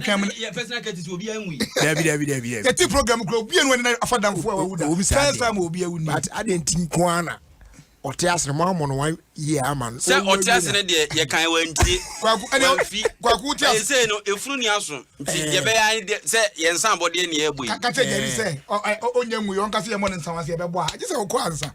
kɛm no yɛ personal kɛti sɛ obiara nwu yi dabi dabi dabi dabi yɛte program kura obiara nwu ɛnna afa damfo a wawu da first time obiara wu ni but adeɛ nti nko ara na ɔte ase no mo amɔ no one year ama no sɛ ɔte ase no deɛ yɛ kan wɔn ntie wɔn fi kwaku te ase ɛsɛ no efunu ni aso nti eh. yɛ bɛ yɛ ayɛ deɛ sɛ yɛn nsa abɔdeɛ ni yɛ bɔ yi kakyɛ yɛri eh. sɛ ɔnyɛ ngu yɛ ɔnkasa yɛ mɔ ne nsa wɔn ase yɛ bɛ bɔ a gye sɛ ɔkɔ ansa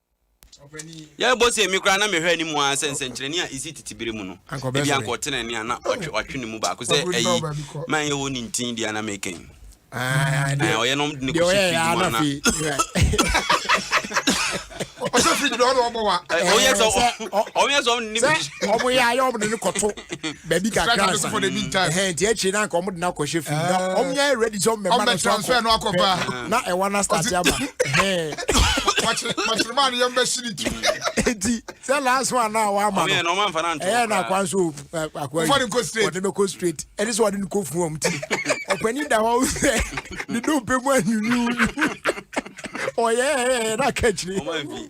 Yɛ bɔ sɛ mi koraa na mehwɛ anim ara sɛ nsɛnkyerɛnne a esi tete bere mu no, ebi ankɔ tene nea na ɔtwe ɔtwe ne mu baako sɛ ɛyi ma ɛyɛ wɔn ne ntin deɛ na mekɛn. Ɔyɛ nom de ne kɔsi fridge mu ana. Ɔsɛ fridge deɛ ɔna ɔbɔ wa. Ɔyɛ sɛ ɔyɛ sɛ ɔne ne bi. Ɔmo yɛ ayɛ ɔmo de ne kɔto. baabi kakra ansa ɛhɛn nti akyire na anka wɔn de n'akɔ hyɛ fim na wɔn nyɛ ayɛ ready sɛ wɔn mɛma no so akɔ pɛ na ɛwa na start ama ɛhɛn. wɔkyerɛma no yɛn bɛ si ne ti. eti sɛ last one na awa ama no ɛyɛ na akwa nso akwa yi wɔde bɛ kɔ straight ɛde sɛ wɔde no kɔ fun wɔn ti ɔpɛni da hɔ sɛ ne do pɛ mu anyunyu ɔyɛ ɛyɛ na kɛkyire.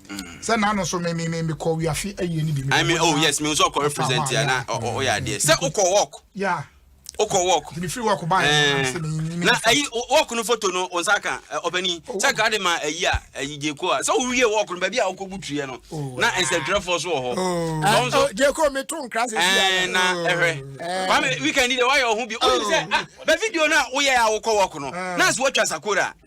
sɛ n'ano so me me me me kɔ wiafe awie ni bi me. i mean oh yes me nso ɔkɔ represent ya na ɔyɛ adeɛ sɛ okɔ work. yeah okɔ work. mi firi work baa yɛ sɛ mi mi. na ayi work no foto no wɔn nsa kan ɔpɛni sɛ nka de ma ayi a ayi jeko a sɛ owie work no baabi a ɔkɔ bu tuyɛ no na nsɛntwerɛfoɔ so wɔ hɔ. na nso jeko mi to nkira sɛ si ya. na ɛhwɛ kwame weekend de wayɛ ɔho bi ɔyɛ sɛ ah bɛ video na oyɛ a wokɔ work no na nso watwa sakora.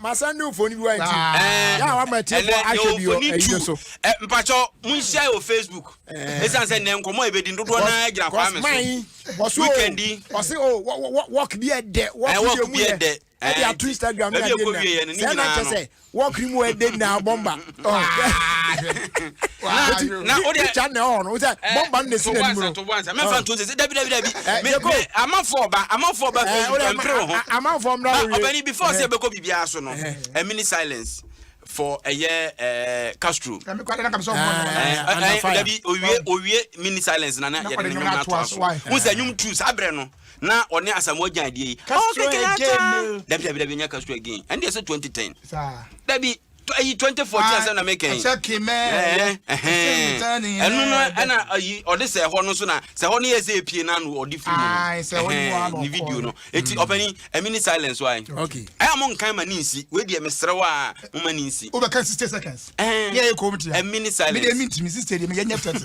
masan ne mfoni bi wa nti yà wà mẹ tiẹ fọ ahwẹ bi wọ ẹyi no so. mpatsɔ mu nhyia yɛ wɔ facebook esan sɛ nɛ nkɔmɔ ebedi dodoɔ naa gyina kwan mi so weekend yi. ɔsi o wɔk bi ɛdɛ wɔk bi mu yɛ ɛdi ato instagram yɛ adi na sɛ ɛna kyɛ sɛ wɔk mu ɛdɛ nyinaa bɔmba. for ɛyɛ eh, ɛɛ eh, castro. ɛmi kɔ adana kamisa ɔmɔ nana yɛ. ɛɛ ɛɛ dabi owie owie mini silence nana yɛ de nyɔm n'ato aso n sɛ nyɔm tu saa abirɛ no na ɔne asamoah gyan adie yi. castro again dabi dabi dabi n yɛ castro again ɛn de yɛ sɛ twenty ten. dabi. ayi twenty fourteen asɛm na mi kɛn ɛnu no ɛna ayi ɔde sɛ ɛhɔ no nso na sɛ ɛhɔ no yɛ sɛ epie na no ɔde firi mu ne video no eti ɔpɛni ɛmi ni silence wa yi ɛyà mo nkan ma ne nsi wei deɛ mesrɛ wa mo ma ne nsi. o bɛ kan sixty seconds. ɛɛ ɛmi ni silence. mi de mi ntumi sixty de mi yɛ nyɛ thirty.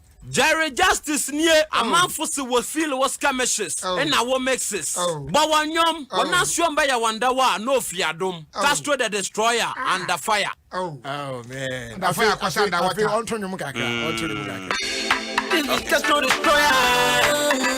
Jerry Justice nie oh. amanfo se wɔ feel wɔ skirmishes oh. na wɔ mixes oh. bɔ wɔn nnwom oh. wɔn asuom bɛyɛ wɔn dɛw a na ofi adom oh. Castro the destroyer ah. under fire. Oh. Oh, man. Under fire kwasa under water. Ɔnto nnwom kakra. Ɔnto nnwom kakra. This is Castro destroyer.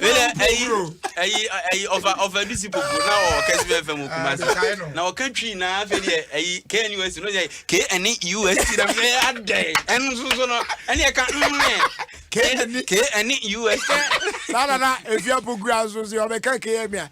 wele ayi ayi ayi ɔfa ɔfa bi si popo na ɔwɔ kɛse bɛɛ fɛn mu kuma se na ɔka twi na afei deɛ ayi knus no yɛ kn us na mi yɛ adɛ ɛnu soso no ɛni ɛka nnɛ kn us. saa nana efia poku aso se ɔbɛka kn mi a.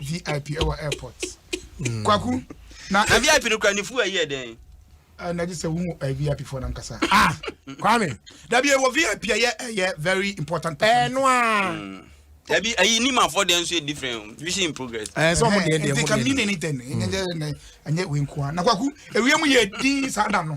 vip ɛwɔ airport mm. kwaku na na vip no kura ne fu ɛyɛ dɛn ah, na gye sɛ wohu eh, vip fo no ankasa ah, kwame dabi ɛwɔ vip ɛyɛ ɛyɛ very important ɛno a mm. dabi ayi ni ma fɔ dɛn nso yɛ different vision in progress ɛɛ sɛ ɔmo deɛ deɛ ɔmo deɛ nti ka mi ne ne tɛ ne ɛnyɛ ɛnyɛ wei nkoa na kwaku ewia mu yɛ din saa da no.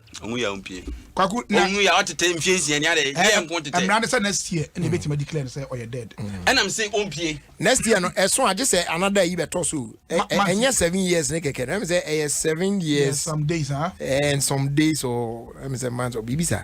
ɔhu yɛ ɔmpie kwaku na ɔhu yɛ ɔtetɛ mfie nsia ni adɛ yɛ nko tetɛ ɛmira ne sɛ next year ɛna ebetumi declare ne sɛ ɔyɛ dead ɛnam sɛ ɔmpie next year no ɛso agye sɛ anada yi bɛtɔ so ɛnyɛ seven years ne kɛkɛ no ɛmɛ sɛ ɛyɛ seven years some days ah and some days or ɛmɛ sɛ months or biribi saa.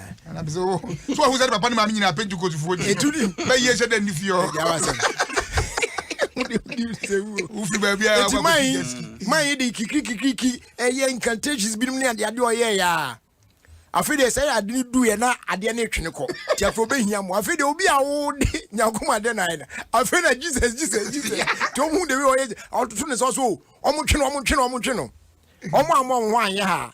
so ɔhu sɛ de papa ne maame nyinaa pentecostefoɔ ni bɛyi ɛhyɛ dɛ nni fie wofi baabi a ɛti man yi man yi de kikirikikiriki ɛyɛ incantations binom ne adeade ɔyɛ yɛ a afei deɛ sɛ ade no duiɛ na adeɛ no twene kɔ nti afei wobɛhia mo afei deɛ obi a wode nyankom adeɛ no ayɛ no afei na jesus jesus jesus nti ɔmu de wi ɔyɛ ɔtoto ne sɔ so ɔmotwe no ɔmotwe no ɔmotwe no ɔmo ammɔ wo ho anyɛ ha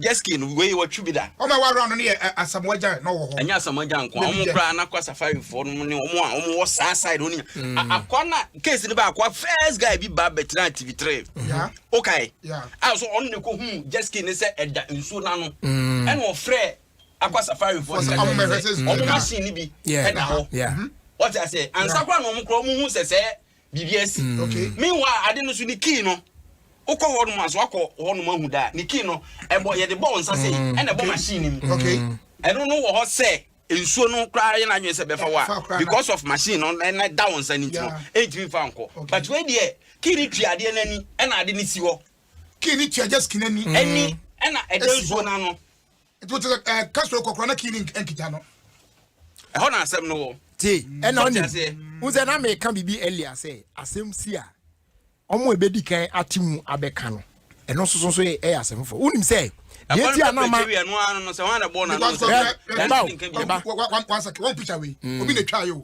Jesky no wei wɔtwe bi da. Wɔn a wɔaworɔ ano no yɛ Asamoah Gyan na wɔwɔ hɔ. Ɛnyɛ Asamoah Gyan nko a, wɔn koraa na Akwa Safarifoɔ no ne wɔn a wɔwɔ saa side wɔn nyinaa. Akwa na case no bɛ Akwa first guy bi ba bɛtena TV three. Okae. A so ɔno na ɛkɔ hu Jesky ne sɛ ɛda nsuo no ano. Ɛna ɔfrɛ Akwa Safarifoɔ sɛ wɔn machine no bi ɛda hɔ. Wɔte aseɛ. Ansa koraa na wɔn koraa wɔn hu sɛ sɛ Biribi asi. Meanwhile, ade no so ne key no. Wokɔ hɔ nom a, so wakɔ hɔ nom ahu da a, ne key no, ɛbɔ, yɛde bɔ wo nsa sɛ yi, ɛna ɛbɔ machine no mu. Okay. Ɛno no wɔ hɔ sɛ, nsuo no koraa yɛ n'adwene sɛ bɛfa wo a, because of machine no, ɛna ɛda wo nsa no nti no, ɛntumi mfa nkɔ. But wei deɛ, key no tua adeɛ no ani, ɛna ade no si hɔ. Key no tua just key no ani. Ani, ɛna ɛda nsuo no ano. nti wote sɛ eh, ka so kɔkora na kii ne nkita no ɛhɔ na asɛm no wɔ te ɛna ɔnim wo sɛ na meka biribi ɛlia sɛ asɛm si a ɔmo ɛbɛdi kan ate mu abɛka no ɛno nso so nso yɛ ɛyɛ asɛm foforɔ wonim sɛ deɛ ti a na ma ɛba o ɛba o one second one picture wei obi na twa yɛ o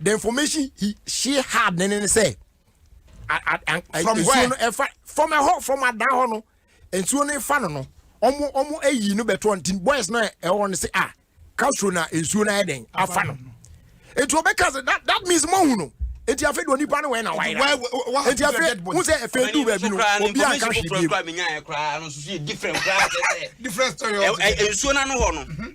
the information he she had ne ne sɛ from where no ɛfa from ɛhɔ from adan hɔ no nsuo no ɛfa no no ɔmo ɔmo ayi no bɛtɔ nti boys no ɛwɔ no sɛ ah castro na nsuo no ayɛ dɛn afa no nti ɔbɛka sɛ that that means mo hu no nti afei de onipa no wɛn na wayɛ nti afei n sɛ afei du baabi no obi a nka hwee bi mu. different story. nsuo no ano hɔ no.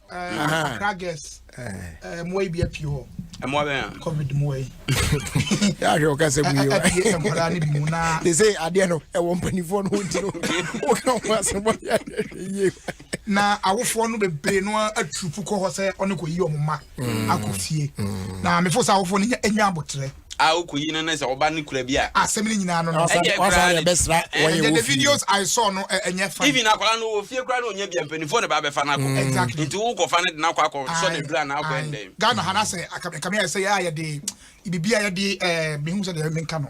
yɛahwɛ wo kasɛ mu yte sɛ adeɛ no ɛwɔ mpanifoɔ no wonti no woka ho asɛmɔ yɛhwɛ na awofoɔ no bebree no aturupu kɔ hɔ sɛ ɔne kɔyi ɔmo ma akɔ fie na mefo sɛ awofoɔ no ɛnya aboterɛ a okoyi no ne sɛ ɔba no kura bi a. Asɛm no nyinaa no no. Ɛdeɛ koraa ne. Wasa deɛ bɛsra wɔn yɛ wɔ fie. The videos I saw no ɛnyɛ fun. Even akwadaa no wɔ fie koraa na ɔnya bi a mpanimfoɔ na ba abɛfa no akɔ. Exactly. Nti wo kɔfa no de no akɔ akɔ sɔ ne dura na akɔ ɛndɛn. Ghana ha na sɛ akame ayɛ sɛ yɛ a yɛde bibi a yɛde ɛɛ mehu sɛ deɛ menka no.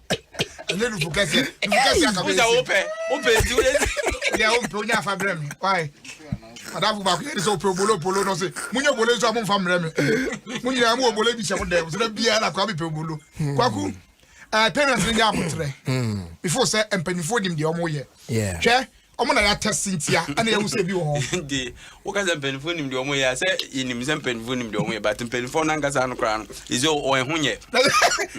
ɛnyɛ nufu kɛsɛ nufu kɛsɛ akabɛ ɛsɛ wopɛ wopɛ nti wopɛ yɛ wopɛ wonya afa brɛ mi wae adafo baako yɛ de sɛ wopɛ obolo polo no se munya obolo nso a momfa mmerɛ me mo nyinaa mo obolo bi hyɛ mo dɛm so da biara na kwa mepɛ obolo hmm. kwaku eh, parents no nyɛ aboterɛ before hmm. sɛ mpanimfoɔ nim deɛ ɔmo yɛ hwɛ ɔmo na yɛatɛse ntia ɛna yɛhu sɛ ebi wɔ hɔ de woka sɛ mpanimfoɔ nim deɛ ɔmoyɛ a sɛ yɛnim sɛ mpanimfoɔ nim deɛ ɔmoyɛ but mpanimfoɔ no ankasa no koraa no ɛsɛ ɔwɔ ɛho nyɛ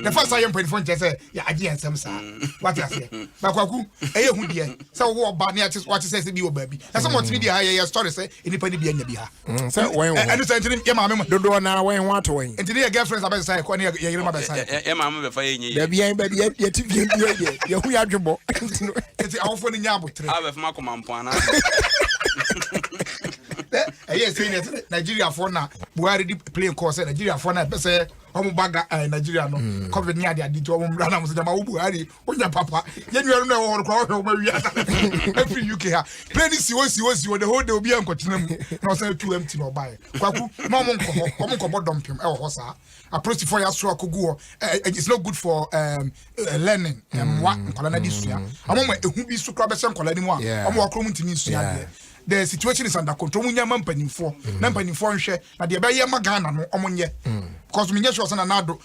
nafa sa yɛ mpanimfoɔ nkyɛ sɛ yɛagye yɛ nsɛm saa mm. wate aseɛ bakwaku ɛyɛ hu deɛ sɛ wowɔ ba ne wate sɛ sɛ bi wɔ baabi na sɛ mɔtumi deɛ ha yɛyɛ story sɛ nnipa no bi anya bi ha Mm, sɛ wɔn ho. Ɛno sɛ ntini yɛ maame mu. Dodoɔ na wɔn ho ato wɔn. Ntini yɛ girlfriends abɛsesa ɛkɔ ne yɛ yɛyere mu abɛsesa ɛkɔ. Yɛ maame bɛfa yɛ nyɛ yɛ. Baabi yɛn baabi yɛ yɛ ti fie bi yɛ yɛ yɛ ho yɛ adwebɔ. Eti awofo ni nyɛ abotire. Awo bɛfa ma kɔma mpɔn ana. Ɛyɛ sɛ yɛ sɛ Nigeria fo na Buhari di plane kɔɔ sɛ Nigeria fo na ɛpɛ sɛ wɔn ba ga ɛɛ Nigeria no mm. covid ni adi adi ti wɔn mura na wɔn sɛ jama wo Buhari wonya papa yɛ nuanom na ɛwɔ hɔ no koraa wɔhwɛ wɔn awia afiri uk ha plane si hɔ si hɔ si hɔ the whole day obi ankɔtena mu na ɔsan tu mt na ɔbaeɛ kwaku ma ɔmo nkɔ hɔ ɔmo nkɔbɔ dɔmpem ɛwɔ hɔ saa apolisifoɔ yɛ asoro akɔgu hɔ it's not good for um, eh, learning mmoa mm. nkwadaa no de sua mm. ɔmo ma ehu bi so koraa bɛhyɛ nkwadaa no mu a ɔmo wɔ akoro mu ntumi nsua adeɛ the situation is under control ɔmo nya ma mpanimfoɔ mm. na mpanimfoɔ nhwɛ na deɛ ɛbɛyɛ ma ghana no ɔmo nyɛ because mi nyɛ sure sɛ na n'ado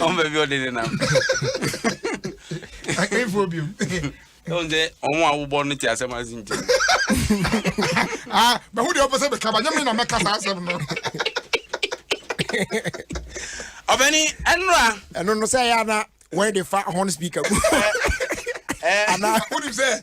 ɔn baabi ɔde ne nam ɛfo biom ɛwon sɛ ɔmo a wobɔ no te asɛm ase nti bɛho deɛ ɔpɛ sɛ bɛka ba nyɛ me na mɛka saa asɛm no ɔbɛni ɛnora ɛno no sɛ ɛyɛ ana wɔde fa horn speaker mu ana wonim sɛ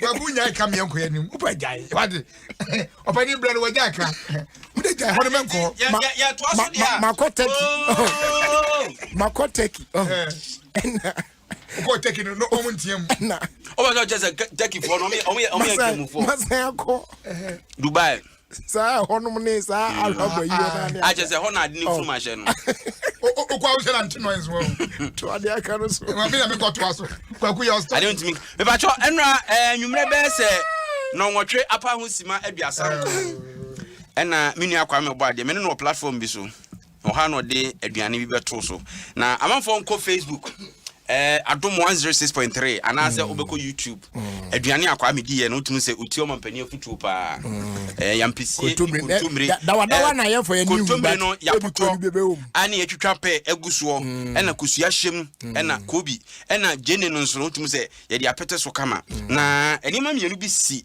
babu nyae ka meɛ nkɔyɛ nim wopɛ gyae wade ɔpɛne berɛ no wɔgyae ka wode gyae hɔ no mɛnkɔ makɔ tɛki makɔ tɛki ɛna kɔ tɛki no na ɔmo nteɛ mu ɛna ɔmo sɛ ɔkyɛ sɛ tɛkifoɔ no ɔmo yɛ tɛmufoɔ masan akɔ dubai saa ɛhɔnom ne saa mm. ahwaba yi wɔn ane akyɛ sɛ ɛhɔ na ade ne oh. funu ma hyɛ no okɔ awo hyɛ na nti noise wɔ to ade aka no so ma mi na mi kɔ to aso kwaku yɛ ɔsɔ ade ntumi mipatsɔ ɛnura ɛɛ nwumire bɛyɛ sɛ nɔnwɔtwe apa ho sima aduasa nkɔ ɛna mi nua kwame ɔbɔ adeɛ mi ne no wɔ platform bi so. Ɔha na ɔde aduane bi bɛto so na amanfoɔ nkɔ facebook eh, adom 106.3 anaasɛ mm. wobɛkɔ youtube mm. aduane akwaa mediiɛ no wotumi sɛ ɔti ɔma mpani afotuo paa mm. eh, yampesie eh, kontommire eh, no yɛapotɔ ane yɛtwitwa pɛ agu soɔ ɛna kosua hyɛm ɛna kobi ɛna gyene no nso no wotumi sɛ yɛde apɛtɛ so kama na nneɛma mmienu bi si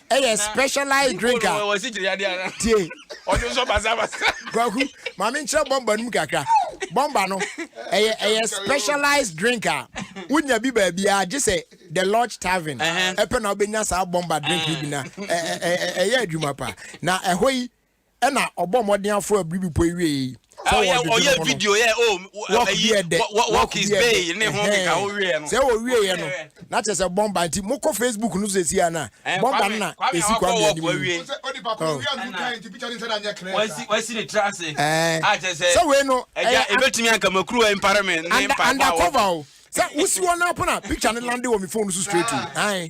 ɛyɛ specialized drink a tie kwaku maame nkyerɛ bɔmba no mu kakra bɔmba no ɛyɛ ɛyɛ specialized drink a wonya bi baabiara gye sɛ the lodge tavern ɛpɛ na wobɛnya saa bɔmba drink no bi na ɛyɛ adwuma paa na ɛhɔ yi ɛna ɔbɔ mmɔden aforo abiri bepɔ yi wiei yi sɛ wɔredwodwo ne ho no wɔk bi ɛdɛ wɔk bi ɛdɛ ɛhɛn sɛ ɔwieɛ no na kyerɛ sɛ bɔmba nti mokɔ facebook no so ɛsi a no a bɔmba no na ɛsi kwa mmea nim sɛ wei no ɛyɛ undercover o sɛ wosi hɔ no apo na picture no lande wɔ me phone so straight o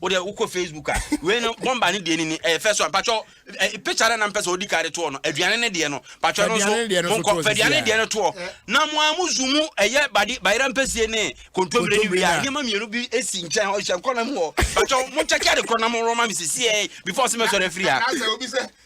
wo deɛ wokɔ facebook a wei no bɔmba ne deɛ nini ɛyɛ fɛ so a mpakyɛw picture dɛ na mpɛ sɛ ɔdi kaa de toɔ no aduane ne deɛ no mpakyɛw no nso monkɔ fɛduane deɛ no toɔ na mo a mo zu mu ɛyɛ bade bayera mpɛsie ne kontomire ne wia nneɛma mmienu bi esi nkyɛn hɔ hyɛ nkɔ na mu hɔ mpakyɛw mo kyɛkyɛ de korɔ na mo rɔma me sisiɛ before sɛ mɛsɔre afiri ha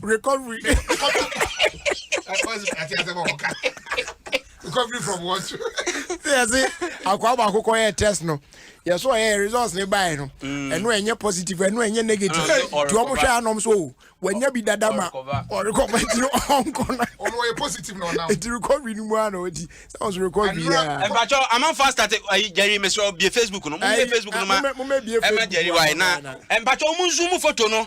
recovery recovery from what yɛse akoa baako kɔ yɛ test no yɛso ɔyɛ results ne bae no mm. ɛno ɛnyɛ positive ɛno ɛnyɛ negative nti ɔmo hwɛ anom so o wanya bi dada ma ɔrekɔba nti no ɔnkɔ no nti recovery no mu a na ɔdi sɛ ɔso recovery ɛbakyɛ amanfoɔ astate gyari mesrɛ bie facebook no momɛ facebook no ma ɛma gyari wae na ɛmpakyɛ ɔmo nzu mu foto no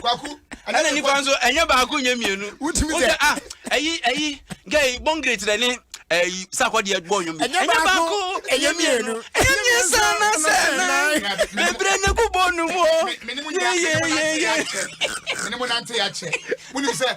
Kwaku. Ɛna nipa nso ɛnyɛ baako nyɛ mmienu. Wotumi sɛ. Wosɛ ah ɛyi ɛyi gɛyi bɔngere kyerɛ ne ɛyi sakɔ deɛ bɔ nnwom. Ɛnyɛ baako ɛnyɛ mmienu. Ɛnyɛ mmiɛnsa na sɛ nan. Bebree na egu bɔ nu mu o. Yeyeyeye. Mene mo nante akyɛ. Wuli sɛ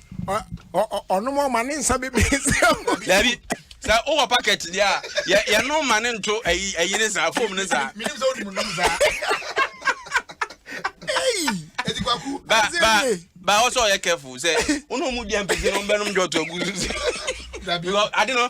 ɔnom ɔma ne nsa bebree sɛ dabi sɛ wowɔ packet deɛ a yɛnom ma ne nto ayi ne saa fom ne saa menim sɛ wonim nom saa ba ɔsɛ ɔyɛ careful sɛ wone ɔmu dua mpɛsi no bɛnom dwɔto agu so sɛ ade no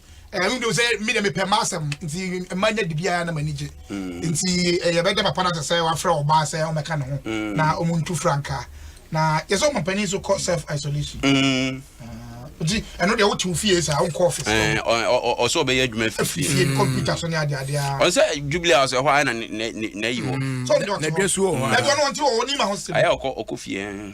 ɛno deɛ sɛ mi deɛ mepɛ m'asɛm nti mma nya de biara na m'ani gye mm. nti eh, yɛbɛda papa no asɛ sɛ wafrɛ ɔbaa sɛ ɔmɛka ne ho mm. na ɔmo ntu frankaa na yɛsɛ ɔma panin so kɔ self isolation mm. ah, nti ɛno deɛ wote wo fie saa wonkɔ office eh, ɔsɛ ɔbɛyɛ adwuma fifie fie no computer so ne ade ade a ɔsɛ jubilee house ɛhɔ ayɛ na na yi hɔ na dua suo hɔ na dua no ɔnte wɔ ɔnim ahosuo ayɛ ɔkɔ ɔkɔ fie eh.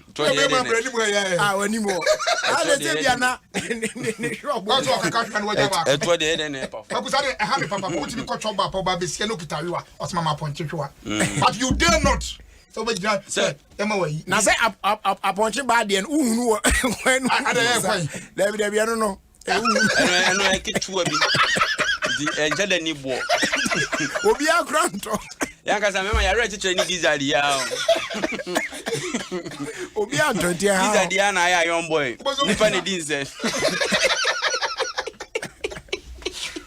ntɔ deɛ ɛde ne anim ɛyɛ ɛyɛ ah w'anim wɔ ah na ɛsɛ bia na ne ne hwɛ ɔbɔ ɔtɔ ɔkeka hwɛ no wagya baako ɛtɔ deɛ ɛde ne ɛpa fam ɛkusa de ɛha ne papa mo tumi kɔtɔ baapa ɔba bɛsia no kita wewa ɔsoma ma apɔnkye hwewa mm. but you dare not sɛ wobɛgyina sɛ ɛma wayi na sɛ apɔnkye baa deɛ no wohunu wɔ kwan no dabi dabi ɛno no ɛno ɛno yɛ ketewa bi nti ɛnkyɛ dɛ ni boɔ obi akora ntɔ yankasa mɛma yɛawerɛ kyekyerɛ ne gizzard yi ara obi antɔ nti ɛha gizzard yi ara na ayɛ ayɔn boy nipa na di nsɛ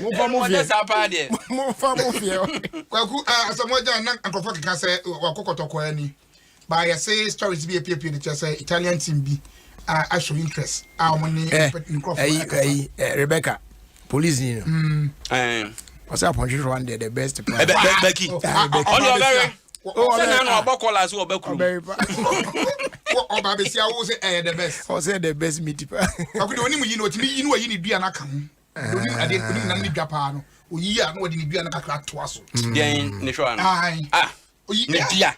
momfa mo fiɛ saa paa deɛ momfa mo fiɛ kwaku asɛm wagya na nkurɔfoɔ keka sɛ wakɔ kɔtɔkɔɔ ani ba yɛse stories bi apiepie no kyerɛ sɛ italian team bi a show interest a wɔn ne nkurɔfoɔ akasa rebecca police ni no ɔsɛ apɔnhwehwɛ one deɛ the best plan bɛki ɔne ɔbɛwe sɛ na na ɔbɔ kɔla so ɔba kurom ɔba bɛsi awo sɛ ɛyɛ the best ɔsɛ the best meat pa ɔkode onim yi no ɔtumi yi no ɔyi ne dua no aka ho onim adeɛ onim nam ne dwa paa no ɔyi a na ɔde ne dua no kakra toa so deɛn ne hwɛ ano ah ne dua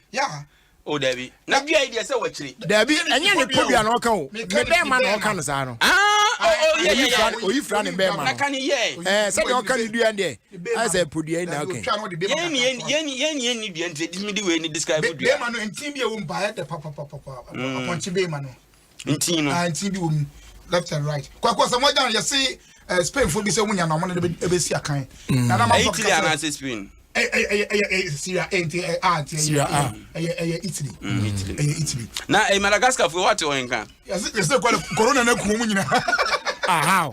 o dabi na dua yi deɛ sɛ wakyire. dabi ɛnyɛ ne podua na ɔka o ne bɛrima na ɔka no saa no oyi fira ne bɛrima no ɛɛ sɛdeɛ ɔka ne dua deɛ ayɛ sɛ podua yi na ɔka yɛni dua nti ɛdi mi di wei ni describe dua bɛrima no nti bi ɛwɔ mu ba ɛdɛ papapapa apɔnkye bɛrima no ntin no. Ah, ntin bi wɔ mu left and right kwakwa sɛ wɔagya no yɛse eh, spainfoɔ bi sɛ wonya no ɔmo ne ɛbɛsi akan mm. na na ma fɔ kasa anaasɛ spain ɛyɛ syria ɛnti ɛyɛ a nti ɛyɛ ɛyɛ ɛyɛ italy mm, italy ɛyɛ italy na eh, madagascar foɔ wɔate wɔn nka yɛse yɛse corona na kuo mu nyina ahaw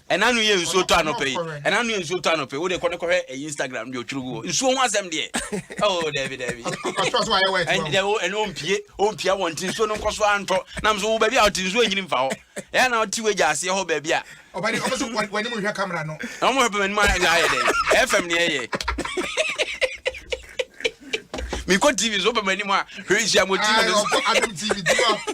Ɛna no yɛ nsuo tɔ anɔpɛ yi ɛna no yɛ nsuo tɔ anɔpɛ yi wode kɔ ne kɔhwɛ ɛyi Instagram deɛ ɔtwerɛ gu hɔ nsuo ho asɛm deɛ oh daabi daabi ɛne ɔmpie ɔmpia wɔn nti nsuo no nkɔ so antɔ nam so wo baabi a ɔte nsuo nyini mfa hɔ ɛyɛ na ɔte wagya aseɛ hɔ baabi a ɔbɛde ɔmo so wɔne mu hwɛ kamera no na ɔmo hwɛ pɛmɛ ne mu ayɛ ayɛ dɛ ɛfɛm ne ɛyɛ mekɔ tv so pɛmɛ ne mu a hwɛ nhyia mo tv no so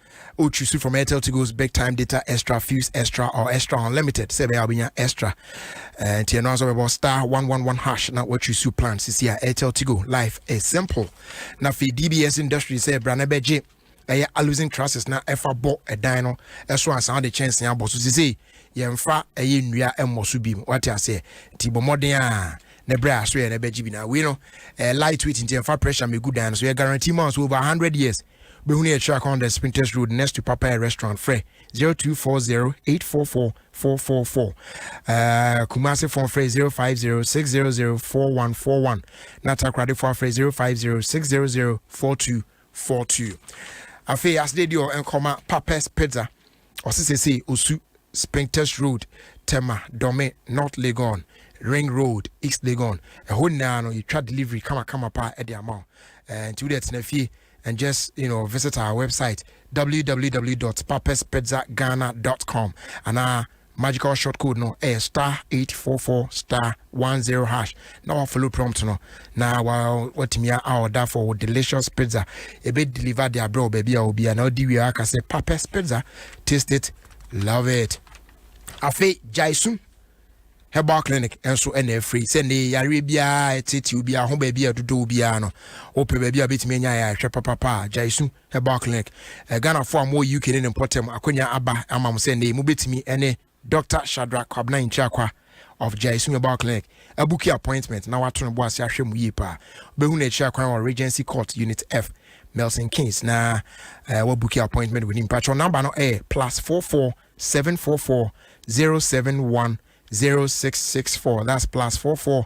O choose from Airtel Tigo's big time data extra fuse extra or extra unlimited sɛ ɛbɛyɛ a wobɛnya extra eh, nti ɛno ara sɛ wobɛbɔ star 111 hash na woachusu plan sisi a Airtel Tigo life is simple na afei DBS industry sɛ ɛbra na ɛbɛgye ɛyɛ alusin trusses na ɛfa bɔ ɛdan no ɛso ansa wode kyɛnsee abɔ so sisei yɛmfa ɛyɛ nnua mmɔ so bi mu wate aseɛ nti bɔ mmɔden a ne berɛ a so yɛ no ɛbɛgye bi na wei no eh, light weight nti ɛmfa pressure mɛgu dan no so yɛ guarantee ma so over 100 years Wobɛhunu yɛn kyerɛ akwan dɛ Spintex Road next to Papaye Restaurant frɛ 0240844444 uh, Kumasefoɔ frɛ 0506004141 na Takoradefoɔ afrɛ 0506004242 Afei asede deɛ ɛnkɔma Papa's Pizza ɔse sesei osu Springtest Road, Tema, Dome, North Legon, Ring Road, East Legon, ɛhɔ nyinaa no yɛtwa delivery kama kama paa ɛde ama wo eh, nti wode tena fie and just you know visit our website www.papaspizzaghana.com anaa magical short code no ɛyɛ eh, star 844 star 10 hash na wa follow prompt no na wa watumi a order for delicious pizza ebe deliver the abro baby a obi a na odi wie aka sɛ papes pizza taste it love it afei jaisu herbal clinic nso ɛna afiri sɛ ne yareɛ biara ɛtete obi ho baabi a ɛdodɔ obiara no wopɛ baabi a wobɛtumi anya yɛ ahwɛ papapa a gyaesu herbal clinic eh, ghanafoɔ a mowɔ uk ne ne mpɔtam akwanya aba ama mo sɛ ne mobɛtumi ne Dɔkta Shadrack Kwabena Nkyia-Kwa of Gyasi Mobile Clinic abuki appointment na wato ne bo ase ahwɛ mu yie paa. Wobɛhu no akyiri akwan wɔ Regency Court Unit F, Milton Keynes na eh, wabuki appointment wɔ nim. Patrɔ namba no ɛyɛ plus 44 744 071 0664 that's plus 44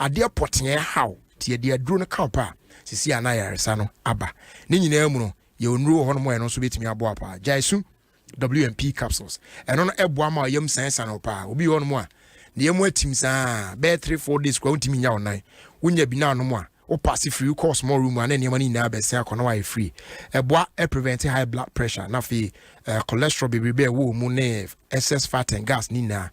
Adeɛ pɔtee haw nti yɛde aduro no ka wo pɛ a, seesei a na ayaresa no aba. Ne nyinaa mu no, yɛwɔ nnuro wɔ hɔnom a ɛno nso bɛtumi aboa wo paa. Gyae su WMP capsules. Ɛno no boa ma yam sanesane wo paa. Obi wɔ hɔnom a, ne yam atim saa bɛyɛ three four days koraa wontumi nya wo nan. Wonya bi na anom a, wo paase firi wokɔɔ small room a na nneɛma no nyinaa bɛsɛn akɔ na wayɛ free. Ɛboa ɛ prevent high blood pressure na afei eh, cholesterol bebrebe a ɛwɔ mu ne excess fat and gas ne nyinaa.